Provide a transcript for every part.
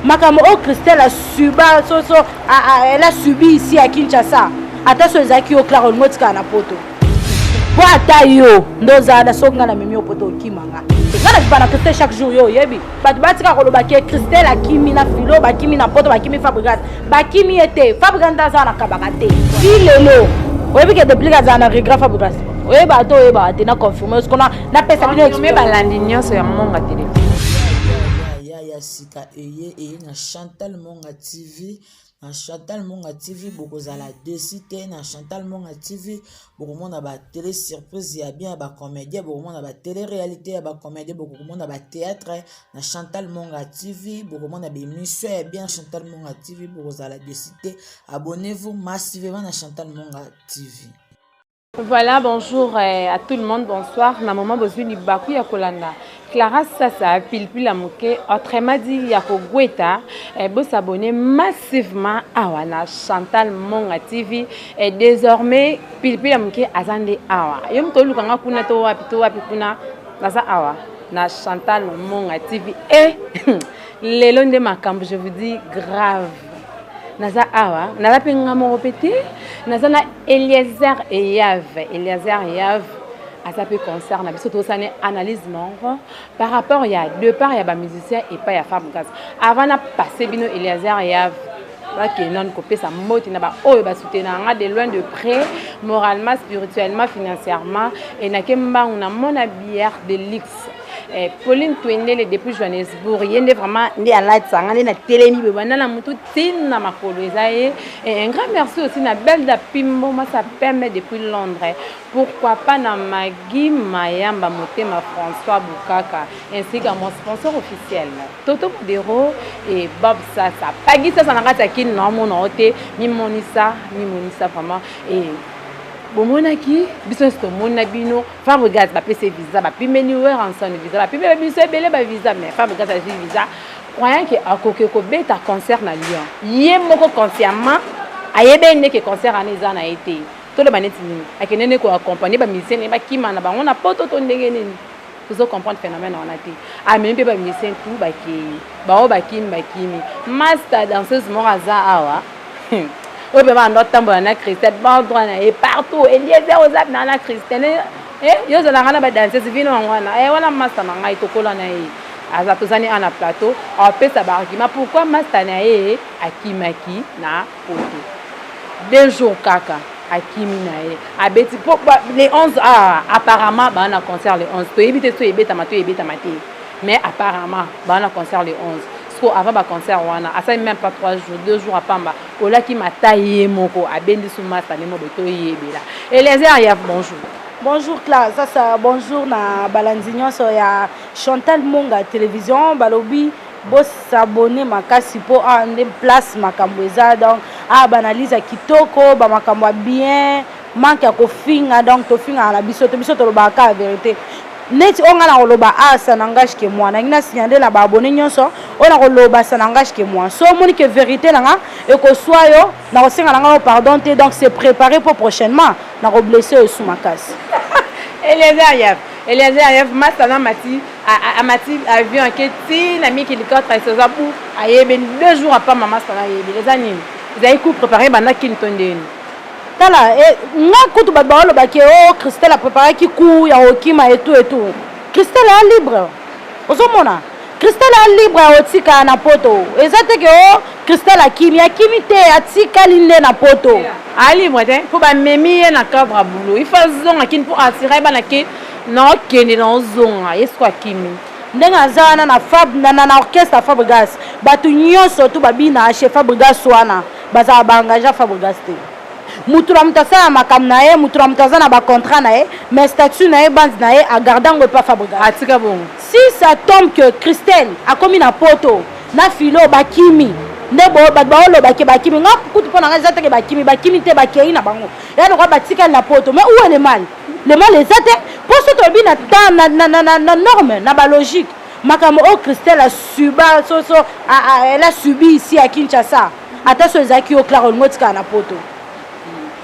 makambo oyo christelle asuba soso elle a subi ici ya kinshasa ata so ezalaki yo clare olingo otikala na poto po ata yo nde ozala na soki ngai na mimi yo poto okima nga ngai na bibana christelle chaque jour yo oyebi bato batika koloba ke christelle akimi na filo bakimi na poto bakimi fabrigate bakimi ye te fabrigate nde azala na kabaka te ti lelo oyebi ke deplike azala na regret fabrigate oyeba ata oyebaka te na confirme siko napesa bino exprime balandi nyonso ya monga telefone ya sika eye eye na chantal monga tv na chantal monga tv bokozala desi te na chantal monga tv bokomona batele surprise ya bien ya bacomédien bokomona batele réalité ya bacomédien bokomona batéâtre na chantal monga tv bokomona bémission ya bien chantal monga tv bokozala desi te abonnez-vous massivement na chantal monga tv Voilà, bonjour eh, à tout le monde, bonsoir. Na maman bozui libaku ya kolanda. Clara Sasa, pilpila moke, autrement dit ya kogweta, eh, bo s'abonner massivement awa na Chantal Monga TV. Et eh, désormais, pilpila moke azande awa. Yo moto oluka nga kuna to wapi to wapi kuna, naza awa na Chantal Monga TV. Et eh, lelo nde makambo, je vous dis grave. naza awa nalapi nga moko mpe te naza na eliezer eyave eliezer eyave aza mpe concert na biso tosani analyse moko par rapport ya depart ya bamusicien epai ya femme gas avant na passe bino eliezer eyave bakendani kopesa moti na baoyo basoutenaka nga de loin de près moralement spirituellement financièrement enake mbangu na mona bière de luxe Eh, Pauline Twendele depuis Johannesburg ye nde vraiment nde alatisa nga nde natelemi boye banda na motu tina makolo eza ye eh, un grand merci aussi na belda pimbo masa pembe depuis londres pourquoi pas na magi mayamba motema françois bukaka ainsi qu'à mon sponsor officiel toto modero et bob sasa pagi sasa na kati ya kini na omona o te mimonisa mimonisa vraiment et bomonaki biso nyonso tomona bino Fabregas bapesi visa bapime ni weranson visa bapime biso ebele ba visa mais Fabregas azwi visa croyant ke akoki kobeta concert na Lyon ye moko consciemment ayebee nde ke concert wana eza na ye te toloba neti nini akende nde koaccompagne bamusicien naye bakima na bango na poto to ndenge nini tozo comprendre phénomène wana te amemi mpe bamusicien tu bakei baoyo bakimi bakimi masta danseuse moko aza awa Hmm. oyo mpe banda otambola na christian bon droit na ye partout eliezer oza na na christian eh, eh, yo ozalaka na badanseuse vino yango wana eh, wana masta na ngai tokola na ye aza tozani a na plateau apesa baargument pourquoi masta na ye akimaki na poto deux jours kaka akimi na ye abeti mpo le 11 ah, apparemment baa na concert le 11 toyebi te so ebetama to ebetama te mais apparemment baa na concert le 11 Siko avant ba concert wana asali même pas 3 jours 2 jours apamba olaki mata ye moko abendi su masta ne mobe to yebela Eliezer ya bonjour bonjour classe sasa bonjour na balandi nyonso ya Chantal Monga télévision balobi bosabone makasi mpo awa ah, nde place makambo eza donc awa ah, baanalyse ya kitoko bamakambo ya bien manque ya kofinga donc tofingaka na biso to biso tolobaka kaka verité neti oyo ngai nakoloba a ah, ça n'engage que moi nangi nasinya nde na baabone nyonso oyo nakoloba ça n'engage que moi so omoni ke verité na nga ekoswa yo nakosenga na ngai yo pardon te donc se préparer mpo prochainement nakoblesse yo esu makasi eliezer yef eliezer yef masta na mati amati avion ake ti na miki likota esoza bu ayebeni deux jours apama masta na ayebi eza nini ezali coup préparé banda kini to ndeni tala eh, nga kutu bato baoloba ke o oh, christelle apreparaki cour ya kokima etout etout christelle a libre ozomona christelle a libre ya kotika na poto eza te ke o oh, christelle akimi akimi te atikali nde na poto a libre te mpo bamemi ye na cadre ya boulot ifa azonga kini mpo atira ye bana ke naokende naozonga ye siko akimi ndenge aza wana na fab na, na, na orchestre ya fabrigas bato nyonso tu babina chez fabrigas wana Bazala ba engage ya Fabrigas te. Mutu na mutu asala makambo na ye, mutu na mutu aza na ba contrat na ye, mais statut na ye, bande na ye a garder yango epa Fabrigas. Atika bongo. Si ça tombe que Christelle akomi na poto na Philo bakimi, nde bo bato bao loba que bakimi. Nga kutu pona nga eza te que bakimi, bakimi te, bakeyi na bango. Eza lokola batikali na poto. Mais où est le mal? Le mal eza te po soki tolobi na temps, na norme, na ba logique, makambo oyo christelle asuba soso elle a subi ici à kinshasa ata so ezalaki yo clara olingo otikala na poto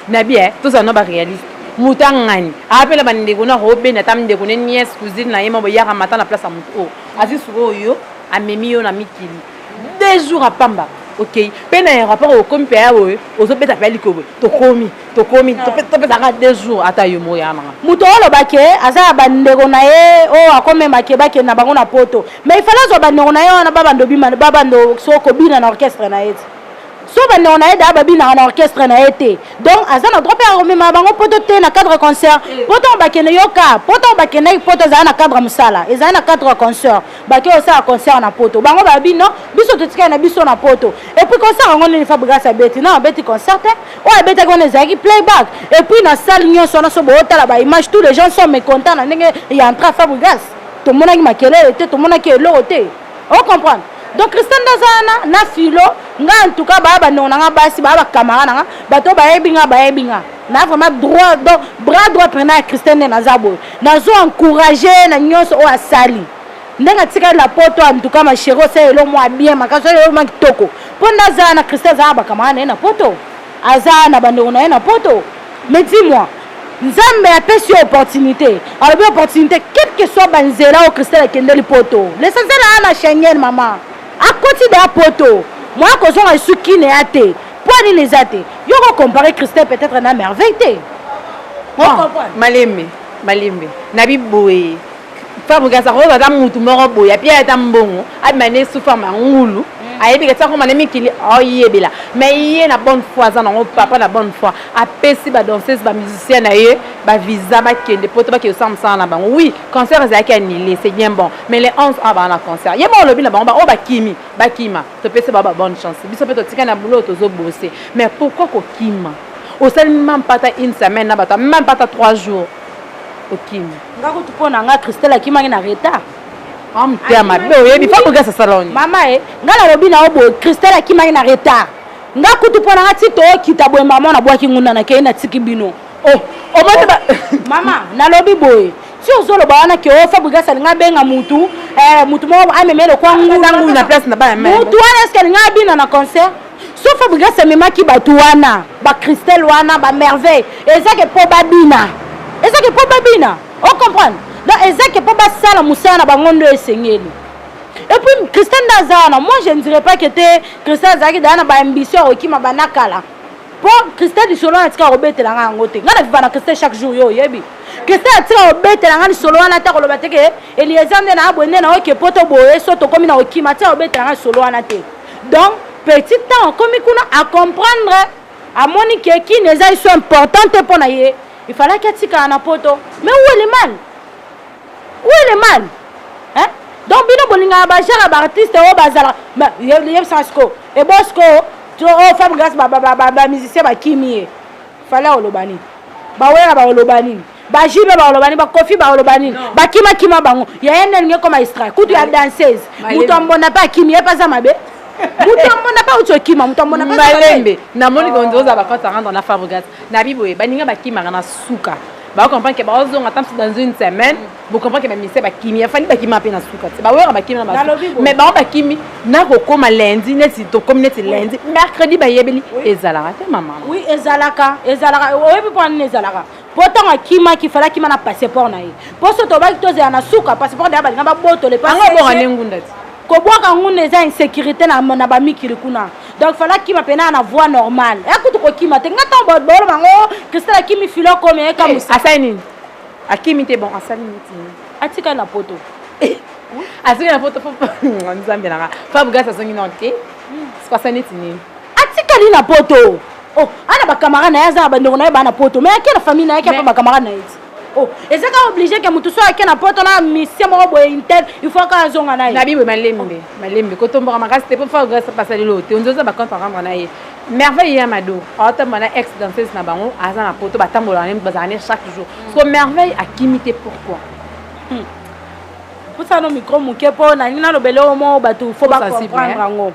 na bien tozala na baréaliste moto angani apela bandeko na robena ata ndeko ne niese cousine na ye ma boyaka mata na place ya moto oyo azwi sikoyo amemi yo na mikili deux jours apamba okei mpe na aéroport okomi mpe awa oyo ozobeta mpe alikobo tokomi tokomi topesaka deux jours ata yo moko yananga moto oloba ke aza na bandeko na ye oyo akomema ke bakende na bango na poto mais ifale azwa bandeko na ye wana babando bima babando so kobina na orchestre na ye ti so bandeko na ye daa babinaka na orchestre na ye te donc aza na droit mpe ya komema bango poto te na cadre concert eh. poto bakende yoka poto bakendaki poto ezala na cadre mosala ezali na cadre concert bato oyo osala concert na poto bango baya bino biso totikali na biso na poto epuis concert yango nini fabrigas abeti na abeti concert te oyo abetaki wana ezalaki playback epuis na salle nyonso wana so bootala baimage tous les gens sont mécontent na ndenge ya entra fabrigas tomonaki makelele te tomonaki eloko te ocomprendre donc christian nde aza wana na filo nga en tout cas baya bandeko na nga basi baya bakamara na nga bato bayebi nga bayebi nga na vraiment droit donc bras droit pena ya christian nde naza boye nazo encourage na nyonso oyo asali ndenge atikali na poto antuka masheri osala elo mwa bien makasi oyo eloma kitoko mpo nde azala na christian azala na bakamara na ye na poto azala na bandeko na ye na poto mais dis moi nzambe apesi yo opportunité alobi opportunité quelque soit banzela oyo christian akendeli poto lesenzela ana schengen mama akoti deya poto moya kozonga esu kine ya te Poids nini eza te? Yo ko comparer Christelle peut-être na Merveille te. Non, malembe, malembe. Na bi boye. Fabrice Kasa ko ata mutu moko boye, api ata mbongo, abima ne sous forme ngulu. ayebi kati akoma na mikili oyebela mais ye na bonne foi aza nango papa na bonne foi apesi badanseuse bamusicien na ye bavisa bakende poto bakende kosala mosala na bango oui concert ezalaki annulé c'est bien bon mais le 11 a baa na concert ye moko olobi na bango baoyo bakimi bakima topesa ba ba bonne chance biso mpe totika na boulot tozo bose mais pourquoi kokima osali mampata une semaine na bato mampata 3 jours okimi nga kutu mpo na nga christelle akimaki na retard amtea mabe oyebi fa bogasa saloni mama e nga nalobi na yo boye christelle akimaki na retard nga kutu mpo na nga ti tookita boye mama na bwaki ngunda nakei natiki bino oh, omoni mama nalobi boye si ozoloba wana ke o fabrigas alinga abenga mutu eh, mutu moko ameme lokwa ngulu na place na bana mutu wana eske alinga abina na concert so fabrigas amemaki bato wana bacristel wana bamerveille ezake mpo babina ezake mpo babina o comprendre donc ezake mpo basala mosala na bango nde esengeli et puis christian nde aza wana moi je ne dirais pas que te christian azalaki daya na baambition ya kokima banakala mpo christian lisolo natika kobetelanga yango te ngai na viva na christian chaque jour yo oyebi Christian atika kobetela ngai lisolo wana ata koloba te ke Eliezer nde na abwe nde na oke poto boye so tokomi na kokima atika kobetela ngai lisolo wana te donc petit temps akomi kuna acomprendre amoni ke kini eza iso important te mpo na ye il fallaki atikala na poto mais où est le mal où est le mal hein? donc bino bolingaka bajara baartiste oyo bazalaka yebisaka sikoyo ebosko to oyo femme grace bamusicien bakimi ye fale oloba nini bawela bakoloba nini bajibe bakoloba nini bakofi bakoloba nini bakimakima bango yaya nde alingi ekoma istra kutu ya danseuse moto ambonda mpe akimi ye mpe aza mabe moto amona pa uti okima moto amona malembe namoni konzoza bakote arendre na fabrigas na biboye baninga bakimaka na suka bakokomprendre ke bakozonga ata mpe dans une semaine Vous comprenez que ministère bakimi afandi bakima mpe na suka te bawera bakimi na basi mais bango bakimi nakokoma lundi neti tokomi neti lundi mercredi bayebeli ezalaka te mama oui ezalaka ezalaka oyebi mpo nini ezalaka mpo ntango akimaki fala akima na passeport na ye mpo so tobaki tozela na suka passeport na ye balinga babotole yango ebonga nde ngunda ti kobwaka ngunda eza insécurité na bamikili kuna donc fala akima mpena na voie normale ekutu kokima te nga ntango baoloba yango oh, cristal akimi filo komi ekamusa eh, asali nini akimi te bon asali mitini atika na poto azongi na poto nzambe nanga fabrigas azongi nao te sikasa neti nini atikali na poto oh, ana bacamarade na ye aza na bandeko na ye baa na poto mai ake na famille na ye ake apa bacamarade na ye ti oh, eza kaka oblige ke motu so ake na poto na misie moko boye intel il faut kaka azonga na ye na biboye malembe malembe kotomboka makasi te mpo fabrigas asaleli oyo te onzoza bacompte arendre na ye Merveille ya Mado aotamba na ex danseuse na bango aza na poto batambola na bazala ne chaque jour mm. soko Merveille akimi te pourquoi hmm. pusano micro moke mpo nalingi nalobele oyo moko bato fo bacomprendre yango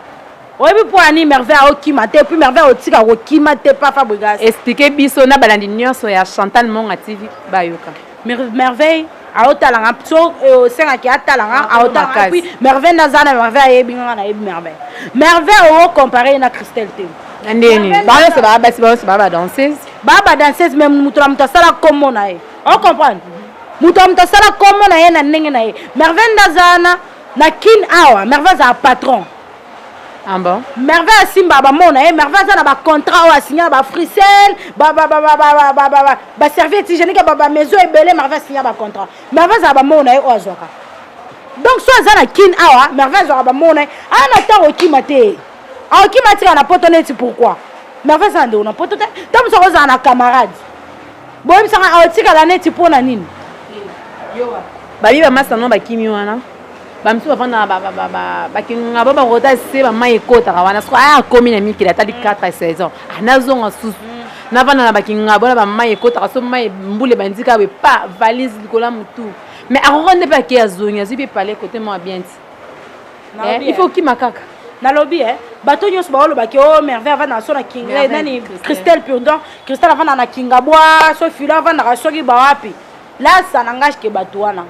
oyebi mpo ani merveille aokima te puis merveille otika kokima te pafa bogas explike biso na balandi nyonso ya chantal monga tv bayoka merveille aotala nga so osengaki atala nga aotala puis merveille naza na merveille ayebi nga nayebi merveille merveille oyo compare ye na christelle te na ndeni bango nyonso baa basi bango nyonso baa badanseuse baa badanseuse mais moto na moto asala kombo na ye o comprendre moto na moto asala kombo na ye na ndenge na ye merveille ndazana na kin awa merveille azala patron Ah bon? Merveille asimba bamona ye eh, Merveille aza na bacontrat oyo asinya bafrisel baservice hygiénique bamaison ebele Merveille asinya bacontrat Merveille azala bamona ye eh, oyo oh, azwaka donc so aza na kin awa Merveille azwaka bamona ye eh. aa ah, na ntango okima te aokima ah, atika na poto neti pourkui Merveille aza na ndeko na poto te ntango mosuku ozala na camarade boyebisaka aotikala neti mpo na nini babi bamasa no bakimi wana bamisusu bafandaka bakingaba bango ata se bamai ekotaka wana soko aya akomi na mikili ata likata saison ah, nazonga susu mm. navanda na bakingaba na bamai ekotaka so mai mbula ebandika boye pa valise likolo ya motu mais akoka nde mpe ake azongi azwi mpe pale kote mwa bien ti eh, il faut okima kaka nalobi e bato nyonso baolobaki o oh, merveille avanda na so na kinga nani christelle purdon christelle avanda na kinga bwa so filo avandaka soki bawapi lasa na nga ke bato wana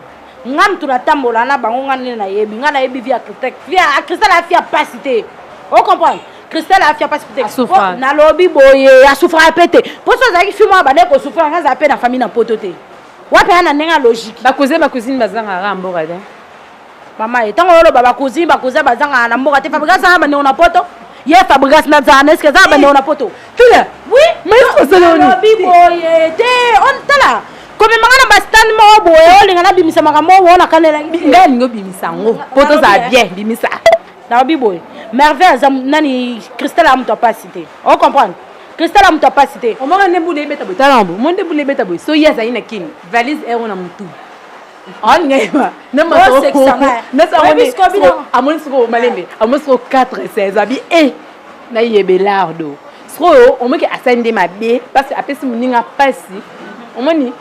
nga mutu natambola na bango nga nde nayebi nga nayebi vie ya cristal vie ya cristal ya fia pasi te o comprendre cristal ya fia pasi te nalobi boye asufraka mpe te mpo so azalaki fi mwa bande kosufraka nga azala mpe na famille na poto te wapi aya na ndenge ya logique bakuze bakusini bazangaka mboka te mama ye ntango oloba bakuzi bakuzi bazangaka na mboka te fabrika azanga bandeko na poto ye fabrigas na zana eske aza bande ona poto tula oui mais osala oni lobi boye te on tala komemanga na bastane moko boye olinga nabimisa makambo oyo ona kanelaki ngai alingi obimisa yango po tozala bien bimisa nalobi boye merveille aza nani cristal ya moto apasi te o comprendre cristal ya moto apasi te omaka nde bula ebeta boye tala yango mo nde bula ebeta boye so ye azali na kini valise ero na motu amoni sikoyo malembe amoni sikoyo 4 16 abi e nayebelardo sikoyo omoki asali nde mabe mpasi apesi moninga mpasi omoni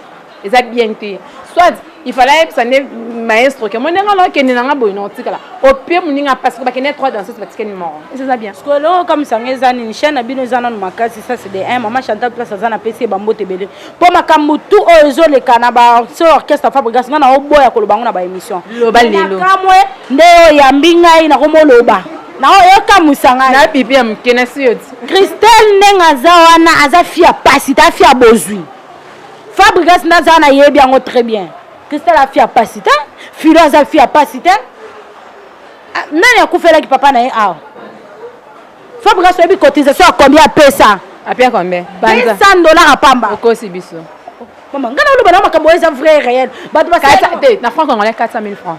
eza bien te soit il fallait ayebisa nde maestro ke mondenga na okende na nga boye na otikala opie moninga mpasi bakende trois danseuse batikeni moko eza bien sikoyo eloko okamwisanga eza nini chaine na bino eza nano makasi ça c'est de un mama chantal place aza na pesi ye bambote ebele po makambo tout oyo ezoleka na ba so orchestre fabrigas nga naoboya koloba yango na ba émission loba lelo nakamwe nde oyo yambi ngai nakomoloba naoyokamusa ngai na bibi ya moke na sioti christelle ndenge aza wana aza fi ya pasi ta fi ya bozwi fabrigas nde aza wana yebi yango très bien christelle afi ya pasi te filo aza fi ya pasi te ah, nani akufelaki papa na ye awa Fabregas oyebi cotisation ya combien apesa? Apia combien? Banza. 200 dollars à pamba. Okosi biso. Maman, ngana oloba na makambo eza vrai réel. Bato ba te na franc congolais 400 000 francs.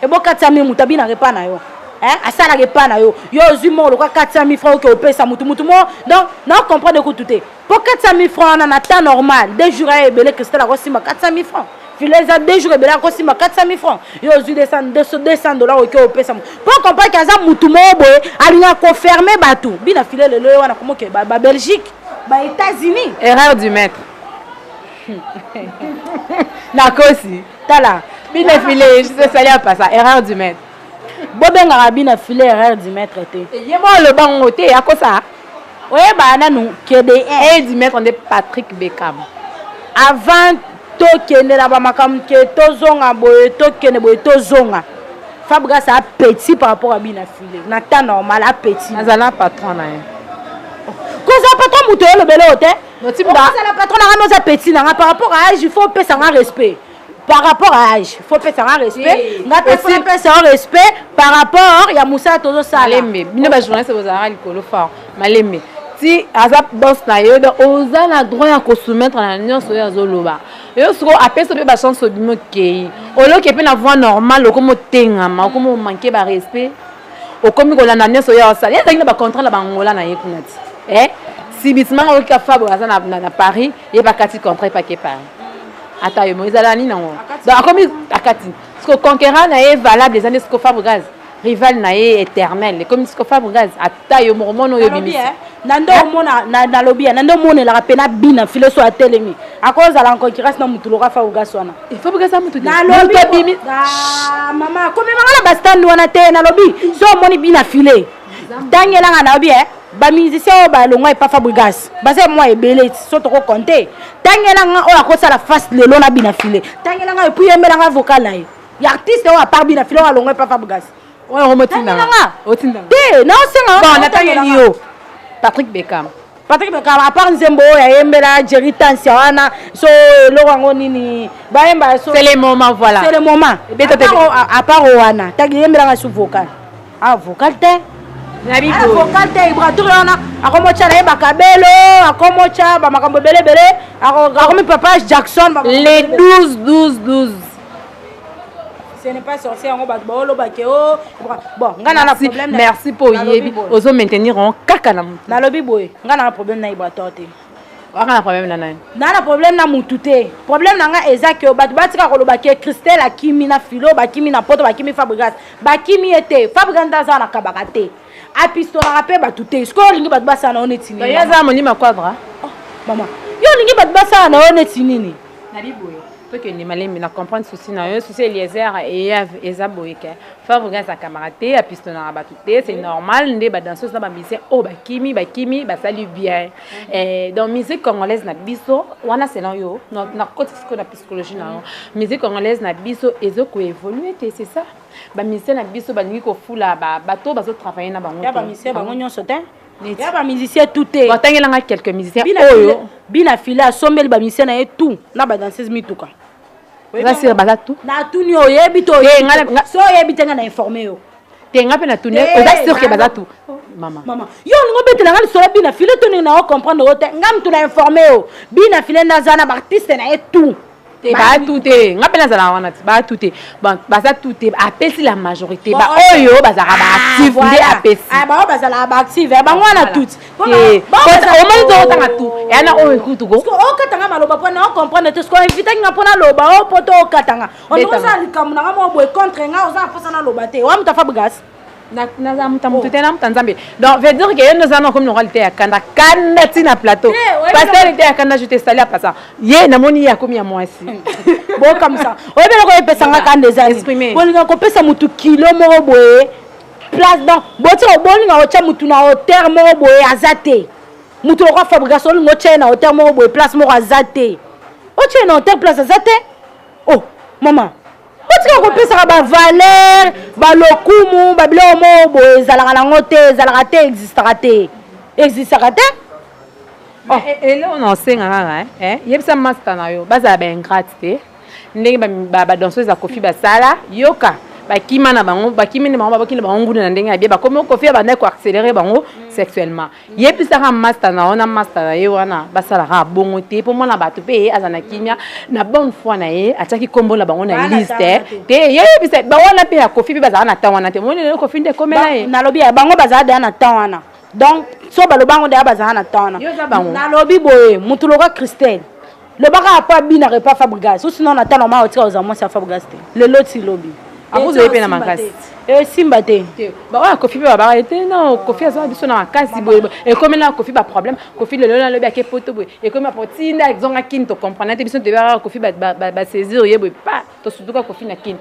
Ebo 400 000 mutabi na repa na yo. Hein? Asala repa na yo. Yo ozui mo loka 400 000 francs oke opesa mutu mutu mo. Donc, na comprendre ko tout po 400 000 francs wana na temps normal deux jours aya ebele cristal akosimba 400 000 francs filet eza deux jours ebele akosimba 400 000 francs yo ozwi 200 dollar oke opesa mo po comprendre ke aza mutu moko boye alinga koferme bato bina filet lelo ye wana komoke babelgique ba états-unis erreur du maître nakosi tala bina filet esali apasa erreur du maître bobengaka bina filet erreur du maître te ye moko aloba ngo te akosa oyebaka nanu kede edi maître nde patrick bekam avant tokende na bamakambo ke tozonga boye tokende boye tozonga fabrigas a petit par rapport ya bina file na temps normal a petit azala patron na ye kozala patron moto oyolobela oyo te ozala patron na nga me oza petit na nga par rapport ya age il faut opesa nga respect par rapport à âge faut pesa nga respect nga pe faut pesa yo respect par rapport ya mosala tozosala malembe bino ba journaliste bozalaka likolo fort malembe ti aza boss na yo donc oza na droit ya kosoumettre na nyonso oyo azoloba yo sikoyo apesa mpe bachance obimi okei oloke mpe na voix normale okomi otengama okomi omanke barespect okomi kolanda nyonso oyo asala ye azalaki na bacontrat na bangola na ye kuna ti eh? sibisimanga oyoki afabo aza na paris ye bakati contrat epake paris ata yo moko ezala nini yango donc akomi akati siko conquérant na ye valable eza nde siko fabre gaz rival na ye éternel ekomi siko fabre gaz ata yo moko mona oyo obimisi na nde omona nalobi ya na nde omonelaka mpe na bina file so atelemi akozala en concurrence na motu loka fa ogas wana nalobi mama komemanga na bastande wana te nalobi so omoni bina file tangela nga na bien ba musicien oyo balongwa epa fabrigas baza mwa ebele ti so toko compte tangela nga oyo akosala face lelo na bina file tangela nga epuis yembela nga vocal na ye ya artiste oyo apart bina file oyo alongwa epa fabrigas oyo omotinda nga te naosenga natangeli yo patrick bekam Patrick Mokaba apart nzembo oyo ayembela Jerry Tansia wana so eloko yango nini bayemba so c'est le moment voilà c'est le moment ebeta te apart wana tagi yembela nga su vocal ah vocal te na bibo ah, vocal te ibratur wana akomotya na ye bakabelo akomotya bamakambo ebele ebele akomi papa Jackson le 12 12 12 ce n'est pas sorcier yango bato baoloba ke o bon ngai na na problème merci mpo oyebi ozo maintenir yango kaka na motu nalobi boye ngai na na problème na ibrator te waka na problème na nani naa na problème na mutu te problème na ngai eza ke bato batika koloba ke christelle akimi na filo bakimi na poto bakimi fabrigas bakimi ye te fabrigas nde aza na kabaka te apistolaka mpe bato te sikoyo olingi bato basala na yo neti nini eza molima quadra oh, mama yo olingi bato basala na yo neti nini tokende malembe na comprendre souci na yo souci eliezer eyave eza boye ke fabriga aza camarade te apistonaka bato te c'est normal nde badanseuse na bamusicien oyo oh, bakimi bakimi basali bien eh, donc musique congolaise na biso wana selon yo nakoti sikoyo na psychologie na yo musique congolaise na biso ezo koévolue te c'est ça bamusicien na biso balingi kofula bato bazotravaille na bango te bango nyonso te ya ba musicien tout te batangela nga quelques musicien oyo bina file asombeli ba musicien na ye tout na ba danseuse mituka oza sire baza tout natuni oyebi to so oyebi te nga na informe yo te nga mpe natuni oza sire ke baza tout mama mama yo olingi obetela nga lisolo bina file to ndenge na yo comprendre yo te nga motu na informe yo bina file naza na baartiste na ye tout te baatu te nga mpe nazalaka wana te baatu te baza tu te apesi la majorité baoyo bazalaka baactive nde apesibaoyo bazalaka baactive bango wana tuti omoni tokotanga tu yana oyo ekutuko okatanga maloba mpo na ocomprendre te sikoyo invitaki nga mpo naloba o mpo to okatanga ondokosala likambo na nga moko boye contre nga oza na mposa naloba te wa moto afa bgas nazala moto ya moto te na moto ya nzambe donc veut dire ke yo nde oza na okomi lokola liteya kanda kanda ti na plateau paster liteya kanda je te sali ya pasa ye namoni ye akomi ya mwasi bokamisa oyebi eloko epesanga kanda ezali bolinga kopesa motu kilo moko boye place donc botika bolinga kotya motu na hauteur moko boye aza te motu lokola fabrication olinga otya ye na hauteur moko boye place moko aza te otya ye na hauteur place aza te oh mama botika kopesaka bavalere balokumu babiloko moko boye ezalaka nango te ezalaka te existaka te existaka te oh. eh, eh, eloko na osenga kaka eh, yebisa masta na yo bazala baingrate te ndenge badanseuse ya kofi basala yoka bakima na bango bakimi na bango babaki na bango nguna na ndenge ya bie bakomi kofi ya bandaki koaccélere bango sexuellement yebisaka masta na yo na masta na ye wana basalaka bongo te mpo mwana bato mpe ye aza na kimia na bonne foi na ye atiaki nkombo na bango na liste te yeyebisa bango wana mpe ya kofi mpe bazala na temps wana te moni lelo kofi nde ekomela ye nalobi ya bango bazala deya na temps wana donc so baloba yango deya bazala na temps wana nalobi boye motu loka christelle loba kaka mpo abinaka epa fabrigas o sinon na ntango omaka otika kozala mwasi ya fabrigas te lelo ti lobi akozwa ye mpe na makasi esimba te baoyo ya kofi mpe babaka ye te no kofi azwa biso na makasi boye ekomi na kofi baproblème kofi lelo nalobi ake poto boye ekomi bapo tinda zonga kini tocomprendre te biso toyebaka kofi basaisir ye boye pa tosutuka kofi na kin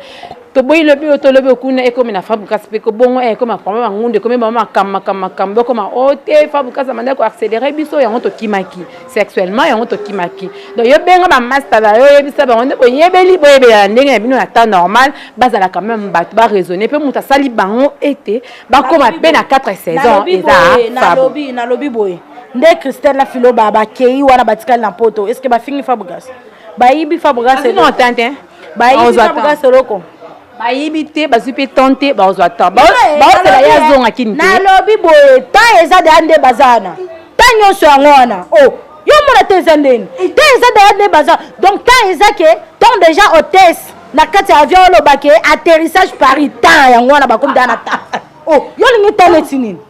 toboyi lobi oyo tolobi okuna ekomi na fabu kasi mpe kobongo eh, ekomi akoma bangundu ekomi bango makambo makambo makambo ekoma o oh, te fabu kasi amanda koaccélere biso yango tokimaki sexuellement yango tokimaki donc yo benga bamasta na yo oyebisa bango nde boyebeli boyebelana ndenge na bino na temps normal bazala quand même bato baraisonne mpe moto asali bango ete bakoma mpe na 4 saison eza fabu nalobi boye nde christelle na filo bakei wana batikali na poto estce bafingi fabugas bayibi fabrigas Azino eloko atteinte, hein? bayibi Bakozwa fabrigas temps. eloko bayibi te bazwi mpe temps te bakozwa temps Bao- Eh, baosela nalobi, ye eh, azonga kini te nalobi boye temps eza deya nde baza wana temps nyonso yango wana o yo omona te eza ndeni temps eza deya nde baza donc temps eza ke temps déjà hôtesse na kati ya avion olobake atterrissage paris temps yango wana bakomi deya na temps o yo olingi temps neti nini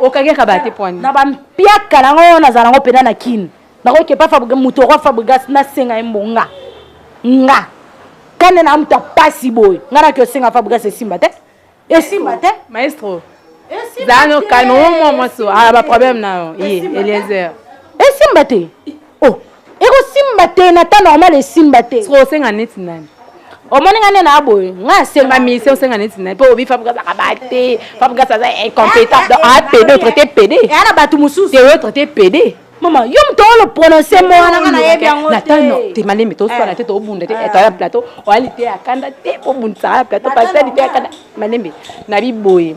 okangaka bate pwani na bampiaka nango oyo nazala nango mpena na kine nakokepa moto okwa fabrigas nasenga ye mbo nga nga kande na moto apasi boye nga naki osenga fabrigas esimba te esimba te maestro zano kalme omwa mwasi ala baproblème na yo ye eliezer esimba te oh ekosimba te na temps normal esimba te sikoyo osenga neti nani omoni nga nde na boye nga asenga mise osenga neti nani mpo obi fabrigas akaba te fabrigas aza incompétent donc apede ah, otraite pede eya eh, na bato mosusu te otraite pede mama yo moto olo prononce mo wana nga nayebi yango natano te malemi toswana eh. te tobunda te eh. toya plateau oya lite ya kanda te obundisaka na plateau pasali te ya kanda malembe na biboye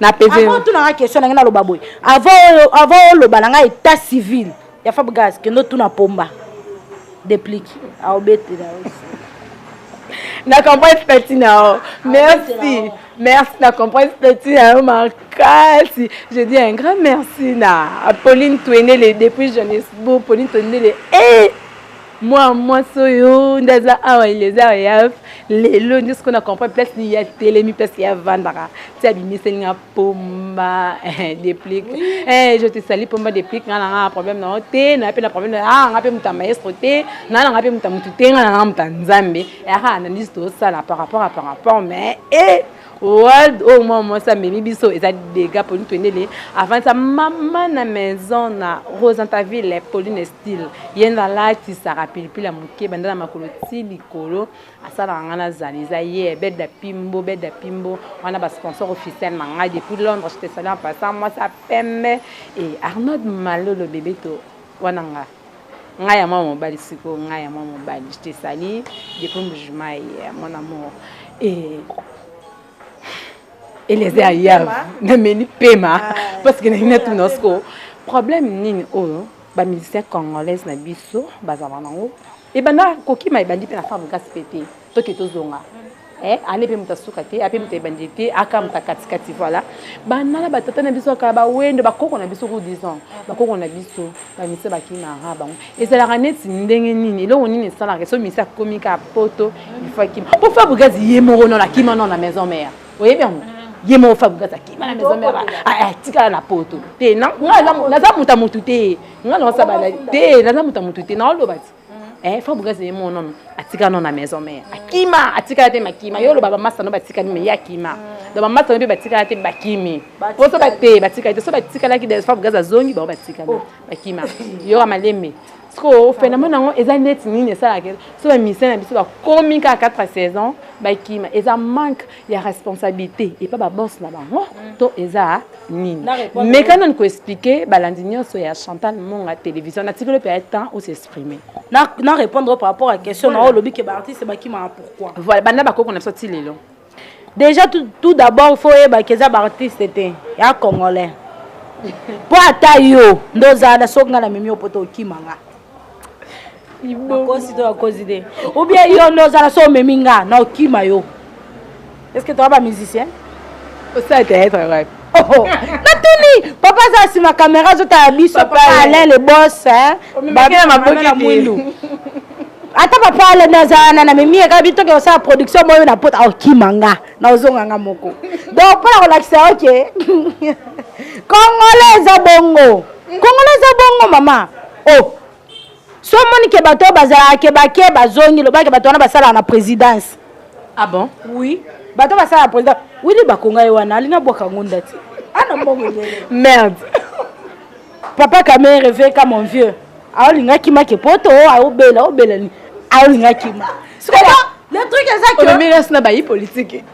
na peze avant tuna nga question nangai naloba boye avant avant oloba na ngai état civil ya Fab Gaz kendo tuna pomba déplic aobete na na comprends petit na merci merci na comprends petit na makasi je dis un grand merci na Pauline Touenele depuis Johannesburg Pauline Touenele eh Moi, moi, soyo, ndaza awa, il est awa, yaf. Lelo, ndio siko na comprendre place ni ya telemi, place ya vandaka. Ti abimisa ni nga pomba, eh, déplic. Eh, je te salue pomba déplic, nga nga problème na te, na pe na problème na, ah, nga pe muta maestro te, na nga pe muta mutu te, nga nga muta nzambe. Eh, ha, na nisto sala par rapport à par rapport, mais, eh, World oyo oh, mwa mwasi amemi biso eza dega polini twendele avandisa mama na maison na rosantaville polini style ye nde alatisaka pilipili ya moke banda na makolo ti likolo asalaka ngai nazali eza ye beda pimbo beda pimbo wana basponsor officiel na ngai depuis londres je te salue en passant mwasi ya pembe e arnold malolo bebeto wana ngai nga ya mwa mobali sikoyo nga ya mwa mobali je te sali depuis mbujimai ya mon amour e eleze ya yave nameli pema ah. parce que nalingi natuna sikoyo problème nini oyo bamusicien congolaise na biso bazala nango ebanda kokima ebandi mpe na femme kasi mpe te toke tozonga eh, ane mpe moto asuka te ape moto ebandi te aka moto akatikati voilà banala batata na biso kaka bawendo bakoko na biso ku disant bakoko na biso bamisa bakimaka bango ezalaka neti ndenge nini eloko nini esalaka so misa akomi kaka poto ifo akima mpo fabrigas ye moko nona akima nona na maison mare oyebi yango ye moko fabrigas akima na maison mare atikala na poto te naza moto ya motu te nga naosabala te naza moto ya motu te naoloba ti eh faut bukazi ye mon homme atika non na maison mère akima atika te makima yo loba ba masta no batika ni ya kima mm. donc ba masta no batika te bakimi po so ba te batika te so batika la ki des fois bukazi azongi ba batika oh. bakima yo amalembe sikoyo phénomène yango eza neti nini esalaka so bamisien na biso bakomi kaka 4 saison bakima eza manque ya responsabilité epa baboss na bango mm. to eza nini meka nani koexplike balandi nyonso ya chantal monga télévision natikeli mpe ya temps o s'exprime na répondre par rapport à question na oyo olobi ke baartiste bakimaka pourquoi voilà banda bakoko na biso ti lelo déjà tout, tout d'abord fo oyebaka eza baartiste te ya congolais mpo ata yo nde ozala soki ngai na mimi yo mpo te okima ngai bakosi to bakosi te ou bien yo nde ozala so omemi nga na okima yo est ce que toa bamusicien osala théâtre wapi oh, oh. natuni papa aza nsima kamera azotala biso papa alain le bos mwindu ata papa alain nde aza wana na memi eka bitoke osala production moyo na pota okima nga na ozonga nga moko donc mpo na kolakisa yo ke kongola eza bongo kongola eza bongo mama o oh. so omoni ke bato oyo bazalaka ke bake bazongi lobake bato wana basalaka na présidence ah bon oui bato basalaka na présidence wili bakonga ye wana alina bwaka yango ndati ana ah, mbongo merde papa kamere veka mon vieux aolinga kima ke poto aobela obela nini aolinga kima le truc eza que omemeli asi na bayi politike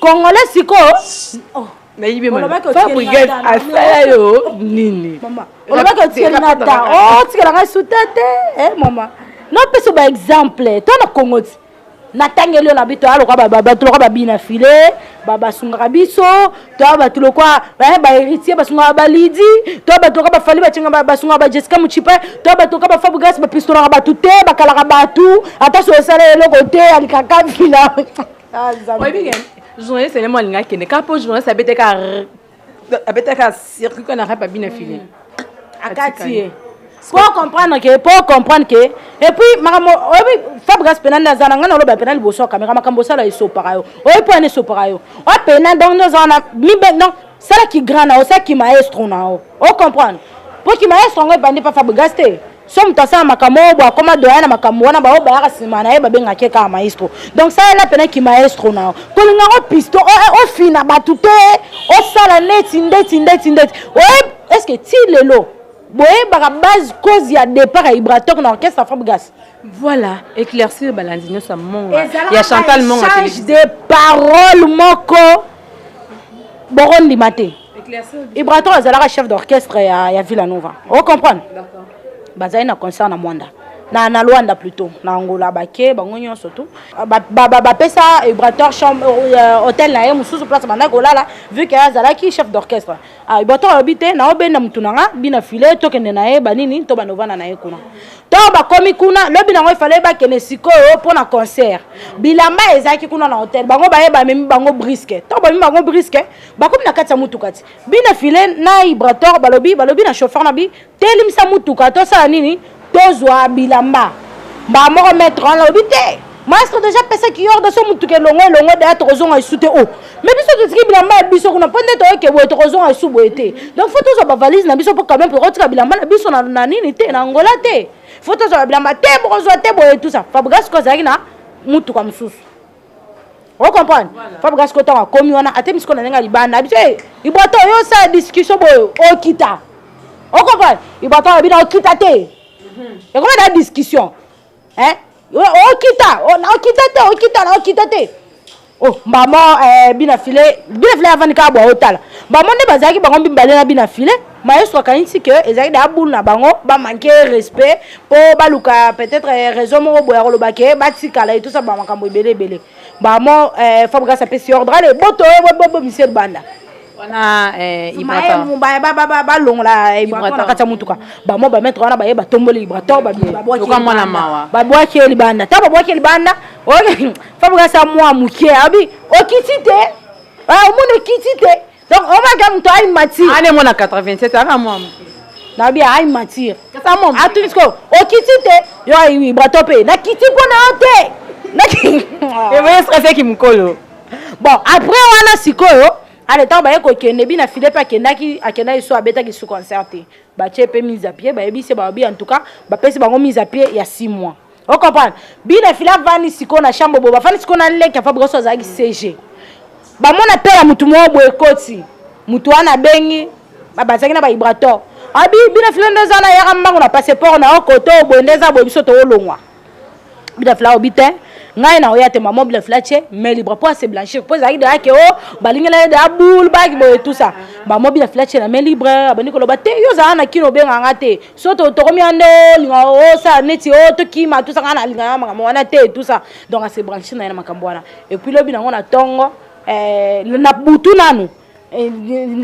Congolais sikoyo oh. nayibi fabrigel asala yo nini olobaki otikeli na ta otikela oh, ngai suta te eh, mama nopesa ba exemple to na kongo ti natangeli yo na bito aloka bato loka babina file basungaka biso toya bato lokwa eh, baheritier basungaka balidi toya bato loka bafali bacengaka basungaka bajessica mucipe toya bato loka bafabrigas bapistolaka bato te bakalaka bato ata so esala eloko te alikaka vila Ah, oyebi ke journaliste elemo alinga akende kaka mpo journaliste abetaka abetaka circuit kaka na rap abina fili mm. akati ye po comprendre ke po comprendre ke epuis makambo oyebi fabrigas pena nde aza na ngai naloba pena liboso ya kamera makambo osala esopaka yo oyebi mpo yana esopaka yo oya pena donc nde oza wana mibe donc sala ki grand na yo sala ki maestro na yo o comprendre mpo ki maestro yango ebandi mpa fabrigas te so moto asala makambo oyo bo akoma doya na makambo wana baoyo bayaka nsima na ye babengaki ye kaka maestro donc salela mpena kimaestro na yo kolinga yango pisto ofina eh, eh, bato te osala neti ndeti ndeti ndeti oye estce ti lelo boyebaka base cause ya départ ya ibratok na orchestre fabrigas voilà éclaircir balandi nyonso ya monga ya chantal monga de parole moko bokondima te ibraton azalaka chef d'orchestre ya, ya villa nova o comprendre bazali na concert na mwanda na, na luanda plutôt na angola bake bango nyonso tu bapesa ba, ba ibrator euh, hotel na ye mosusu place bandaki kolala vu ke azalaki chef d'orchestre ah, ibrator alobi te naobenda motu na nga bina file tokende na ye banini to banovanda na ye kuna to bakomi kuna lobi nango efale bakende sikoyo mpo na concert bilamba ezalaki kuna na hotel bango baye bamemi bango briske to bamemi bango briske bakomi na kati ya motuka ti bina file na ibrator balobi balobi na chauffeur na bi telimisa motuka tosala nini tozwa bilamba mbaa moko maître wana alobi te maestro deja apesaki yorde so motuka elongo elongo deya tokozonga lisu te o oh. me biso totiki bilamba ya biso kuna mpo nde toyoke boye tokozonga lisu boye te donc fo tozwa bavalise na biso mpo quand même tokotika bilamba na biso na nini te na angola te fo tozwa bilamba te bokozwa te boye tusa fabrigas ko azalaki na motuka mosusu o comprendre fabrikasi ko ntango akomi wana atemi sikoyo na ndenge ya libanda abi te ibwato oyo osala discussion boyo okita o comprendre ibwato alobi na okita te mhm. ekomi na discussion okita okita te okita na okita te oh, mbamo eh, bina file bina file avandi kaka bwa otala mbamo nde bazalaki bango mibale na bina file Maestro akanisi que ezali da boule na bango ba manquer respect po baluka peut-être eh, raison moko boya koloba ke batikala etosa ba makambo ebele ebele bamo eh, Fabregas apesi ordre ale boto eh, bobo Michel Banda wana eh, balongola eh, na kati ya motuka bamo bametre wana baye batomboli ibrator babwaki ye libanda ntango babwaki ye libanda fabregas ya mwa moke abi okiti te omoni okiti te donc omaka moto ai matière ane mwana 87 aka mwa moke nabi ai matière atuni sikoyo okiti te yo aiwi bato mpe nakiti mpo na yo te eboye stresseki mokolo bon après wana sikoyo ale ntango baye kokende bina file mpe akendaki akendaki so abetaki su concert te batie mpe mise a pied bayebisi bababi en tout cas bapesi bango mise a pied ya 6 mois o comprendre bina fila avandi sikoyo na chambre boye bafandi sikoyo na leki ya fabrigas oyo azalaki cg bamona mpe ya motu moko boye ekoti motu wana abengi bazalaki na baibrator abi ah, bina fila nde eza na yaka mbango na passeport na yo koto boye nde eza boye biso toolongwa bina fila obi te ngai na oya te mama bina fila tie mais libre mpo ase blanchir mpo ezalaki deya ke o oh, balingela ye deya boule baki boye tout ça mama bina fila tie na mai libre abandi koloba te yo ozala na kino obenga nga te so tokomi ande olinga oh, osala oh, neti o oh, tokima tusa ngai nalingana makambo wana te tusa donc asebranche na ye na makambo wana epuis lobi nango na ntongo eh, na butu nanu eh,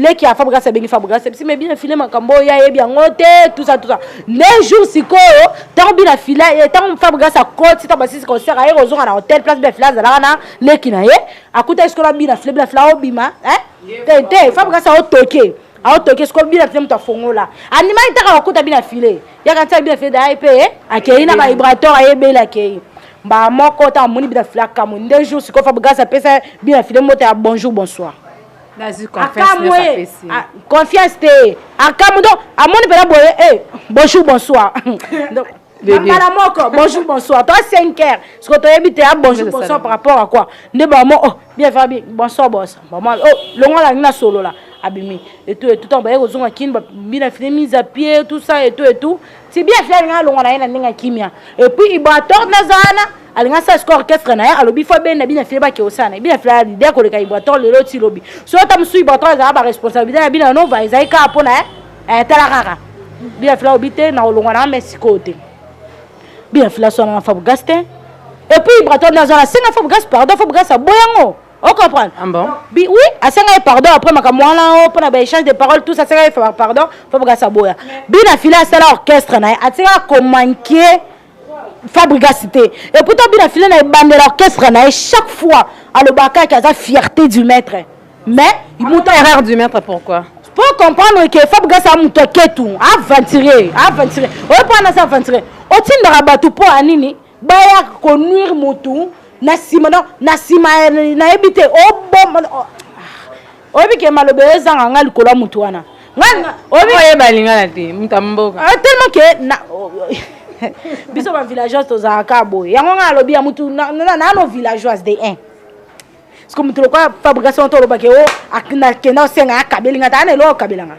leki ya fabrigas abengi fabrigas ebisi me bina file makambo oyo ayebi yango te tusa tusa ne jour sikoyo ntango bina file ntango eh, fabrigas akoti ntango basisi concert aye kozonga na hotel place bina file azalaka na leki na ye akutaki sikoyo na bina file bina file aobima te te fabrigas aotoke aotoke sikoyo bina te moto afongola andimaki ntaka bakota bina file yaka ntiaka bina file daye mpe eh, akei na bavibrateur ayebeli akei mbaa moko ntango amoni bina file akamwe nde jour sikoyo fabrigas apesa bina file mota ya bonjour bonsoir akamwe ah, confiance te akamwe donc amoni mpena boye eh, bonjour bonsoir na mbala moko bonjour bonsoir toi 5 heures siko toyebi te ya ah, bonjour bonsoir par rapport à quoi nde bamo oh bien va bien bonsoir bonsoir bamo oh longola yangi na solola abimi etu etu ntango baye kozonga kini bina fini mise à pied tout ça etu etu ti bien fia alinga alonga na ye na ndenge ya kimia epuis iboator naza wana alinga sa score orchestre na ye alobi fo abenda bina file bake osana bina file ya lide akoleka iboator lelo ti lobi so ata mosusu iboator ezala baresponsabilité na bino ya nova ezali kaka mpo na ye eh, tala kaka bia fila obi te na kolongwa na ame sikoyo te bia fila swana na fabugas te epuis braton naza nasenga fabugas pardon fabugas aboya yango o comprendre ah bon? Bi, oui asenga ye pardon après makambo wana o oh, mpo na baéchange de parole tous asenga ye pardon fabugas aboya bina fila asala orchestre na ye atika komanke fabrigas te ekuta obi na file na ebandela orchestre na ye chaque fois alobaka yaki aza fierté du maître mais moto erreur du maître pourquoi po comprendre ke fabrigas a moto aketu aventurier aventurier oyo mpo wana aza aventurier otindaka bato mpo ya nini baya konuire motu na nsima na nsima nayebi te oboma oyebi ke maloba eyo ezanga nga likolo ya motu wana oyeba lingala te moto ya mboka ah, tellement ke biso bavillageoise tozalaka kaka boye yango ngai alobi ya motu nano villageoise de un ceke motu lokola fabrication to olobake o oh, nakenda osenga akabeli ngai ta ana eloko akabela ngai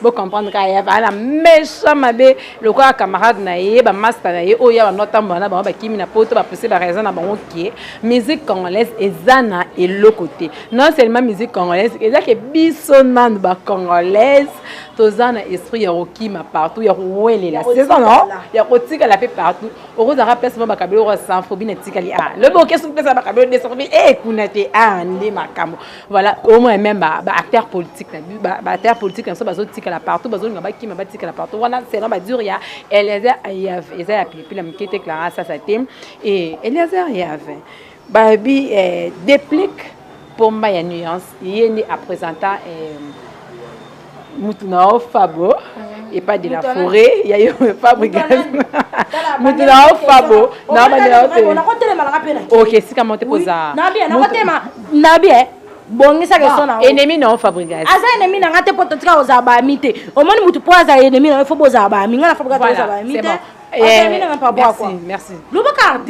bo comprendre ka ya bana méchant mabe lokola camarade na ye ba masta na ye oyo ya bando atambola na bango bakimi na poto bapose ba raison na bango ke musique congolaise eza na eloko te non seulement musique congolaise eza ke biso nanu ba congolaise toza na esprit ya kokima partout ya kowelela seza no ya kotikala mpe partout okozalaka place mo bakabelo okosanfobi na tikali a ah, lobi okesi mpesa bakabelo desanfobi e eh, kuna te a ah, nde makambo voilà au moins même ba, ba acteurs politiques ba, ba acteurs politiques na biso bazotikala partout bazolinga bakima batikala partout wana selon badure ya eliezer yave eza ya pilipili ya moke te clara sasa te e eliezer yave babi eh, déplique pomba ya nuance ye nde apresenta eh, mutu na yo fabo epa de la forêt ya yo fabrigas mutu na yo fabo nabandela yo te ok esika mo te poza nabi e bongisa question na ennemi na yo fabrigas aza ennemi na nga te mpo totika kozala baami te omoni mutu mpo azala ennemi na yo fo bozala baami nga na fabrigas tozala baami te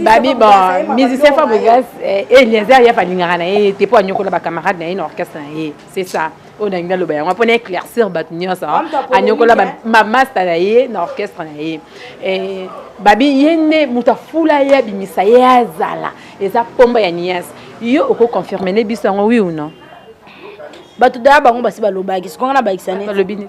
babi bon musicien fabrigas eliezer ye afalingaka na ye te mpo anyokola bacamarade na ye na orchestre na ye c'est ça oyo nalingi naloba yango mpona éclaircir bato nyonso anyokola mamasta na ye na orchestre na ye eh, babi ye nde moto afula ye abimisa ye azala eza mpomba ya nias yo okoconfirme ne biso yango wi ou non bato daya bango basi balobaki sikonga na bakisa nini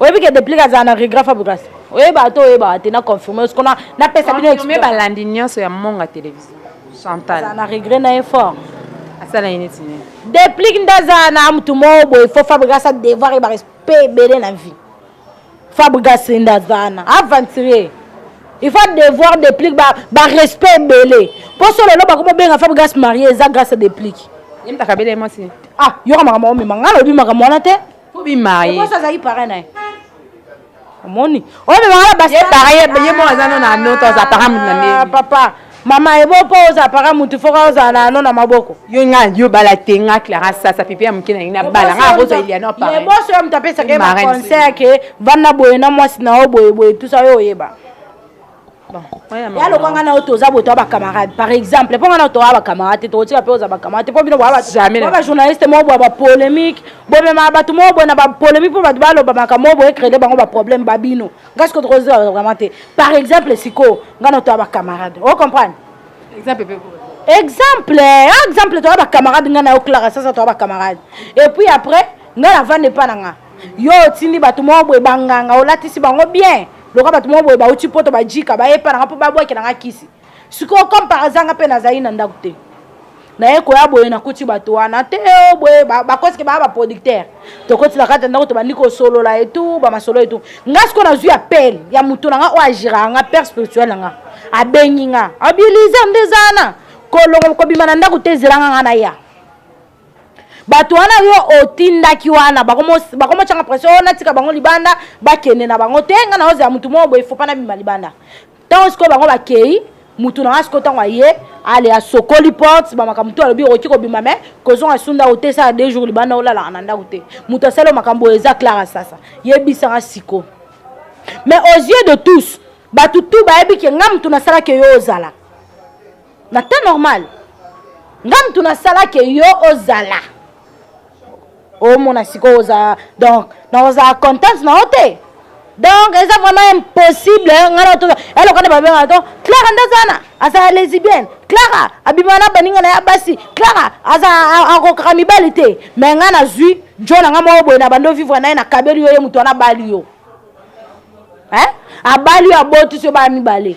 oyebi ke deplic azala na regret fabrigas oyeba to oyeba te na confirmer ce qu'on a na pesa bino mais balandi nyonso ya monga télévision chantal na regret na effort asala ye neti nini deplic nde azala na motu moko boye fo fabrigas a devoir ye barespect ebele na vie fabrigas nde azala na aventurier il faut devoir deplic barespect ba ebele mpo so lelo bakomi obenga fabrigas marie eza grâce ya deplic yemtakabele mwasi ah yoka makambo omema ngai alobi makambo wana te Faut bien marier. Pourquoi ça parrain na ye? Omoni? Oyo beba na basi. Ye parrain ye mo aza no na no to za parrain mutu na nini? Papa, mama ebo po oza parrain mutu faut oza na no na maboko. Yo nga yo bala te nga Clara sasa pipi ya mukina ina bala nga bozo ilia no parrain. Ye boso ya mutapesa ke ma conseil ke vanda boye na mwasi na yo boye boye tout ça yo oyeba. ya lokwa nga na yo toza boto ya bacamarade par exemple mpo nga na yo toya bacamarade te tokotika mpe oza bacamarade te mpo bino boya bajournaliste moko boya bapolémique bomema bato moko boye na bapolémique mpo bato baloba makambo moko boye créde bango baproblème ba bino nga siko tokozela vraiment te par exemple sikoyo nga na yo toya bacamarade o comprendre exemple exemple ah, exemple toya bacamarade nga na yo clara sasa toya bacamarade et puis après nga na vanda epa na nga yo otindi bato moko boye banganga olatisi bango bien loka bato moko boye bauti mpoto bajika baye epa nanga mpo babwakela nga kisi sikoyo comme par hasard nga mpe nazali na ndako te naye koya boye nakuti bato wana te oh, boye bakosike baa baproducteur tokoti na kati ya ndako tobandi kosolola etu bamasolo etu nga sikoyo nazwi appel ya moto na nga oyo agiraka nga père spirituel na nga abengi nga abilise nde ezana kolongo kobima na ndako te ezelanga nga naya bato wana yo otindaki wana bakomotyanga pression oyo natika bango libanda bakende na bango te ngai naozela motu moko boye fopa nabima libanda ntango sikoyo bango bakei motu na ngai sikoyo ntango aye ale asokoli porte bamakambo to alobi okoki kobima me kozonga sunda otesaka de jour libanda olalaka na ndako te moto asali makambo oyo eza clara sasa yebisaka siko mais aux yeux de tous bato tu bayebi ke ngai motu nasalaki yo ozala na temps normal nga mutu nasala ke yo ozala omona sikoyo oza donc nakozala contente na yo te donc eza vraiment impossible nga na toza eloko nde babengaka to clara nde azana azala lesibienne clara abima na baninga na ya basi clara aza akokaka mibali te me nga nazwi jo na nga moko boye na bando vivre na ye nakabeli yo ye moto wana abali yo abali yo abotisi yo bana mibale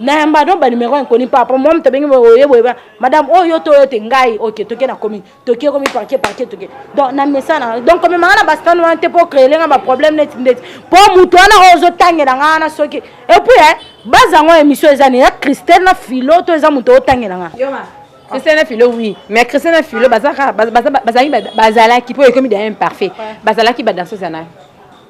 nayamba no banumero ya nkoni par rapport mom tobengi oye boye madame oyo oh, to oyo te ngai oke toke na komi toki ekomi parke parke toke donc na mesana donc komemanga na bastane wana te mpo créele nga baproblème neti ndeti mpo moto wana oyo ozotangela nga wana soki epuis eh, baza yango émission eza ne ya christelle na filo to eza moto otangela nga christiane filo oui mais christiane filo bazalaki bazalaki mpo ekomi da imparfait bazalaki badanseuse ya nayo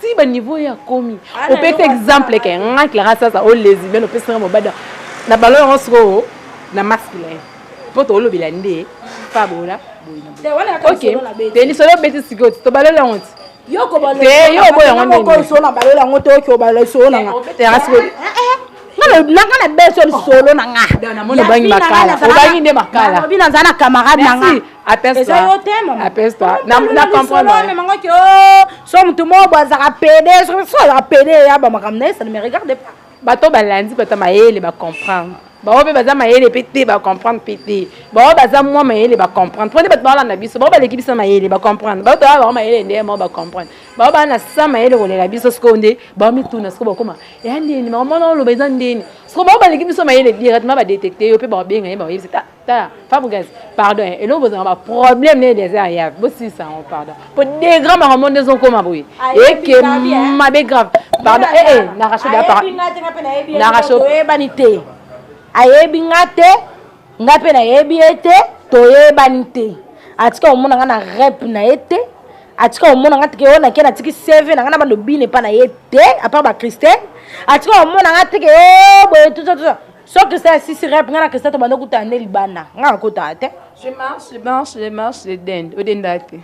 ti ba niveau ya komi opesa exemple ke nga clara sasa o lesbienne opesa nga mobada na balo yango sikoyo na masculin mpo toolobela nde fabola boyinaoke lisolo obeti sikoyo tobalola yango ti yo oboya yango ndebalola yango te oke obalola lisolo na nga obeteyanga sikoyo nanga na beso lisolo na nga obangi makala obangi nde makala obi naza na camarade na nga eza yo te mamamangaki oh, so motu moko bo azaka pede so azaka pede ya bamakambo na ye ça ne me regarde pas bato balandi bato ya mayele bacomprendre bango mpe baza mayele mpe te bacomprendre mpe te bango baza mwa mayele bacomprendre mpo nde bato balanda biso bango baleki biso mayele bacomprendre bango toyaka bango mayele nde bango bacomprendre bango baa na sa mayele kolela biso sikoyo nde bango mituna sikoyo bakoma ya ndeni bango mwana oloba eza ndeni sikoyo bango baleki biso mayele directement badetecte yo mpe bakobenga ye bakoyebisa tala fabregas pardon eh, eloko bozanga baproblème neye des heures yave bosilisa yango pardon po de grand bango monde ezokoma boye eke mabe grave pardon ee eh, eh, naracho naracho toyebani te ayebi nga te nga mpe nayebi ye te toyebani te atika komona nga na rep na ye te atika komona nga teke oyo nake natiki seve na nga na balobine epa na ye te apart bachristine atika komona nga teke o boye tusa tusa so christian asisi rep ngai na christian tobanda okutana nde libanda ngai nakotaka te je marche je marche je marche je dende odenda te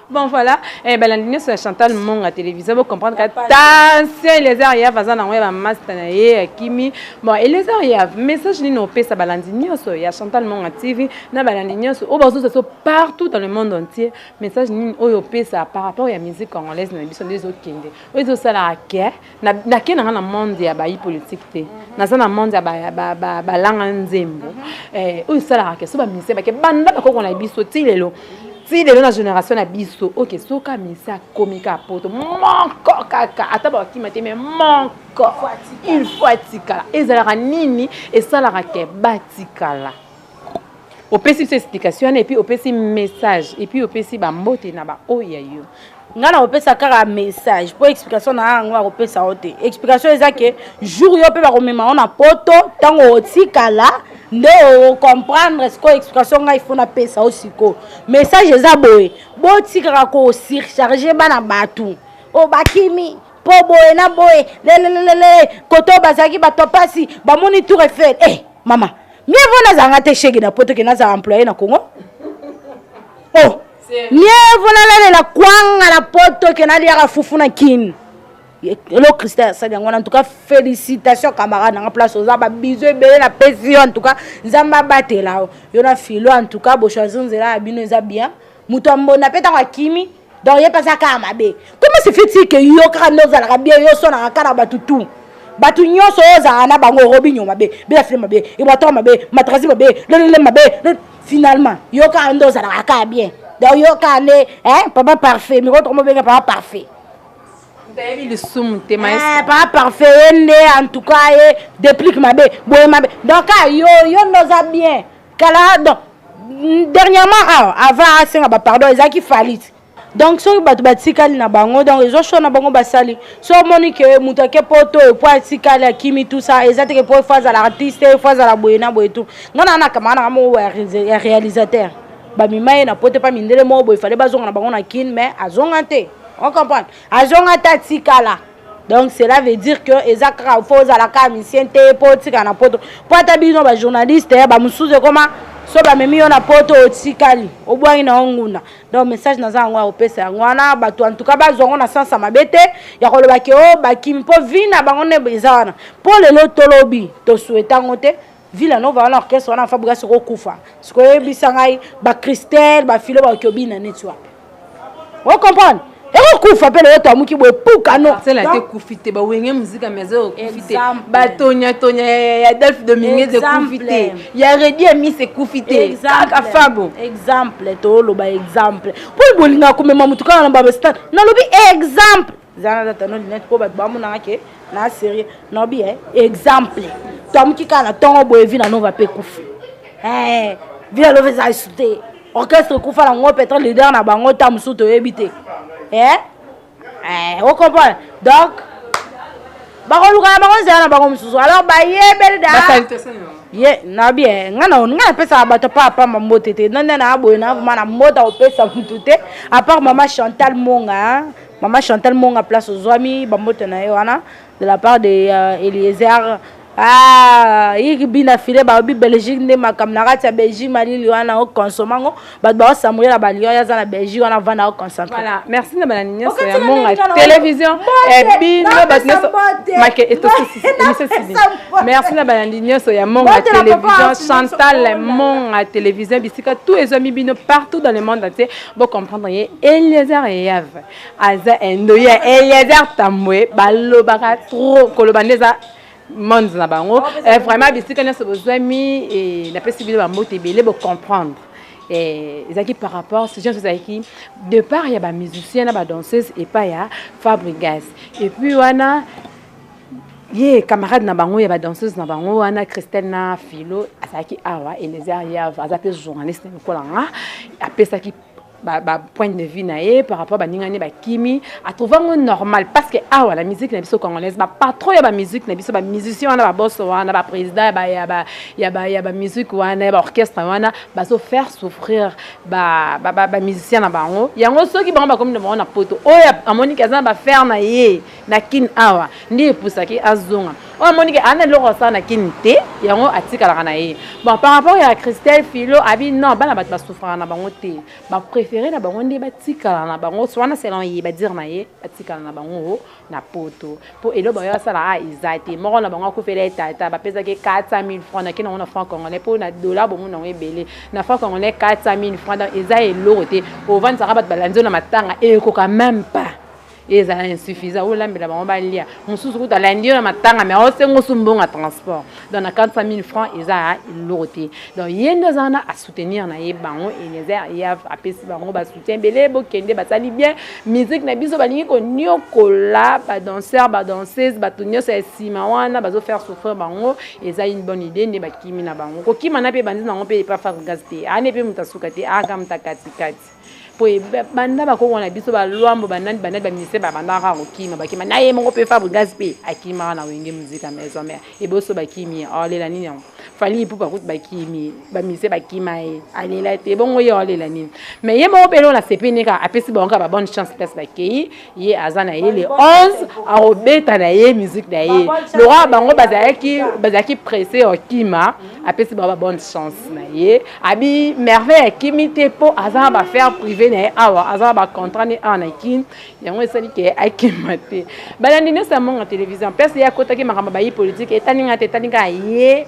bon voilà eh, balandi nyonso ya chantal monga télévision bocomprendre ka tension elezer yav aza nango ya bamasta na ye akimi bon elezer yav message nini opesa balandi nyonso ya chantal monga tv na balandi nyonso oyo bazosa so partout dans le monde entier message nini oyo opesa par rapport ya musique congolaise na biso nde ezokende oyo ezosalaka ke nake nanga na monde ya bayi politike te naza na monde ya balanga nzembo mhm. eh, oyo esalaka ke so bamise bake banda bakoko na biso ti lelo ti lelo na génération na biso oke soka mise akomi ka poto moko kaka ata bakima te mai moko il faut atikala ezalaka nini esalaka ke batikala opesi biso explication wana epuis opesi message epuis opesi bambote na baoyo ya yo ngai nakopesa kaka message mpo explication na yango akopesa yo te explication eza ke jour yo mpe bakomema yo na poto ntango otikala nde ocomprendre sikoyo explication ngai fo napesa yo sikoyo message eza boye botikaka kosurcharge bana bato oyo bakimi mpo boye na boye lelelelele koto bazalaki bato ya mpasi bamoni tour efele e eh, hey, mama mie vo nazalanga te shege na poto ke nazala employe na congo oh mie vo nalalela kwanga na poto ke naliaka fufu na kini elo christian asali yango wana antuka félicitation camarade nanga place oza babizo ebele na pesi yo antuka nzambe abatela yo yo na filo antuka bochoisir nzela ya bino eza bien moto ya mbonda mpe ntango akimi donc ye mpe aza kaka mabe comment se fait-il que yo kaka nde ozalaka bien yo osonaka kaka na bato tout bato nyonso oyo ozalaka na bango robinio mabe belafile mabe ebwator mabe matrasi mabe lelele mabe finalement yo kaka nde ozalaka kaka bien donc yo kaka nde papa parfait mikolo toko mobenga papa parfait toyebi lisumu te eh, papa parfait ye nde en tout cas ye déplique mabe boye mabe donc kaka yo yo nde oza bien kala donc dernièrement awa ah, avant asenga ah, bapardon ezalaki falite donc soki bato batikali na bango donc ezo sho na bango basali so omoni ke moto ake po to epo atikali akimi tout ça eza teke po efo azala artiste efo azala boye na boye tout nga na nakamaka nanga moko ya réalisateur bamima ye na po te pa mindele moko boye fale bazonga na bango na kin mais azonga te on comprendre azonga te atikala donc cela veut dire que eza kaka fo ozala kaka misien te mpo otika na poto mpo ata bino bajournaliste eh, bamosusu ekoma so bamemi yo na poto otikali obwangi na yo nguna donc message naza yango ya kopesa yango wana bato antuka bazwa yango na sansa mabe te ya koloba ke o oh, bakimi mpo vi na bango nde eza wana mpo lelo tolobi tosueta yango te Villa Nova wana orchestre wana Fabriga soko kufa. Siko yebisa ngai ba Christelle ba filo ba kiobina neti wapi. Vous comprenez? ekokufa mpe lelo toamuki boye pukano sela te kufi te bawenge muzika mais ekufi te batonyatonya ya adolphe dominguez ekufi te ya redi ya mis ekufi te kaka fabo exemple toloba exemple mpo bolingaka komema motu kaka na babastan nalobi exemple zana data no lunette mpo bato bamonaka ke na serie naobi e exemple toamuki kaka na ntongo boye vi na nova mpe kufi eh, vi na lova eza esu te orchestre kufa na ngo peut-être leader na bango ta mosusu toyebi te eh? eh, ocomprendre donc bakoluka na bango nzela na bango mosusu alors bayebeli da ye nabi e nga na nga napesaka bato pa apamba mbote te nande na aboye na vraimen na mbota kopesa motu te apart mama chantal monga Maman Chantal Monga place ozuami bambote na ye wana de la part de uh, Eliezer ah yiki bina file ba bi Belgique nde makambo na kati ya Belgique malili wana o consommer ngo bato ba osambuye na baliyo ya za na Belgique wana vanda o concentre voilà merci na bana nyonso ya monga télévision et bino bato nyonso make etosisi emission sili merci na bana nyonso ya monga télévision Chantal monga télévision bisika tout ezwami bino partout dans le monde entier Bo comprendre ye Eliezer Yave aza endo ye Eliezer Tambwe balobaka trop koloba nde eza monde na bango eh, vraiment bisika nyonso bozwami eh, napesi bino bambote ebele bocomprendre eh, ezalaki par rapport sujet nyonso ezalaki départ ya bamusicien na badanseuse epai ya fabrigas epuis wana ye camarade na bango ya ba danseuse na bango wana christelle na philo azalaki awa elezer yave aza mpe journaliste lokola nga apesaki ba, ba point de vue na ye par rapport baninga ne bakimi atrouva ngo normal parce que awa ah, na musique na biso congolaise bapatron ya bamusique na biso bamusicien wana babos wana baprésident ya ba ya ba ya bamusique wana ya baorchestre wana bazo faire souffrir bamusicien na bango yango soki bango bakomi na bango na poto oyo amoniki aza na bafere na ye na kin awa nde epusaki azonga oyo amoni ke ana eloko asala na kin te yango atikalaka na ye bon par rapport ya christelle philo abi non bana bato basufraka na bango te bapréféré na bango nde batikala na bango wana selon ye badire na ye batikala na bango na poto mpo elo bayo asala a ah, eza te moko na bango akufela ye tata bapesaki 400 000 franc nake nango na franc congolais mpo na dola bomona yango ebele na franc congolais 400 000 franc donc eza eloko te ovandisaka bato balandi yo na matanga ekoka meme pas ezala insuffisant olambela bango balia mosusu kutu alandi yo na matanga me aosenga osumbonga transport donc na 400 000 francs eza eloko te donc ye nde aza wana asoutenir na ye bango elezer ye apesi bango basoutien ebele bokende basali bien musique na biso balingi koniokola badanseur badanseuse bato nyonso ya nsima wana bazofaire souffrir bango eza une bonne idée nde bakimi na bango kokima na mpe ebandi nango mpe epa fabrigas te ane mpe moto asuka te aka moto akatikati boye banda bakongo na biso balwambo banani banani baministre babandaka kaka kokima bakima na ye moko mpe fabrigas mpe akimaka na wenge muzika maison mare eboso bakimi ye aolela nini yango fali ipupa kutu bakimi baministre bakima ye alela te ebongo ye aolela nini mais ye moko mpe eloo na sepeni kaka apesi bango kaka babonne chance place bakei ye aza na ye le 11 akobeta na ye musique na ye lokola bango bazalaki bazalaki presse okima apesi bango babonne chance na ye abi merveille akimi te mpo aza na bafaire privé na ye awa aza na bacontrat ne awa na kin yango esali ke akima te balandi nyonso ya monga télévision place ye akotaki makambo bayi politike etali ngai te etali ngai ye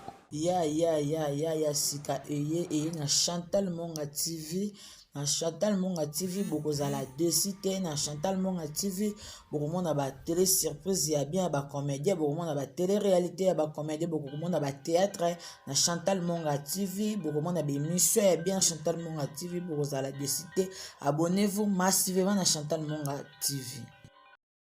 ya ya ya ya ya sika eye eye na chantal monga tv na chantal monga tv bokozala desi te na chantal monga tv bokomona batele surprise ya bien ya bacomédien bokomona batele réalité ya bacomédien bokomona batéâtre na chantal monga tv bokomona bémission ya bien chantal monga tv bokozala desi te abonnez vous massivement na chantal monga tv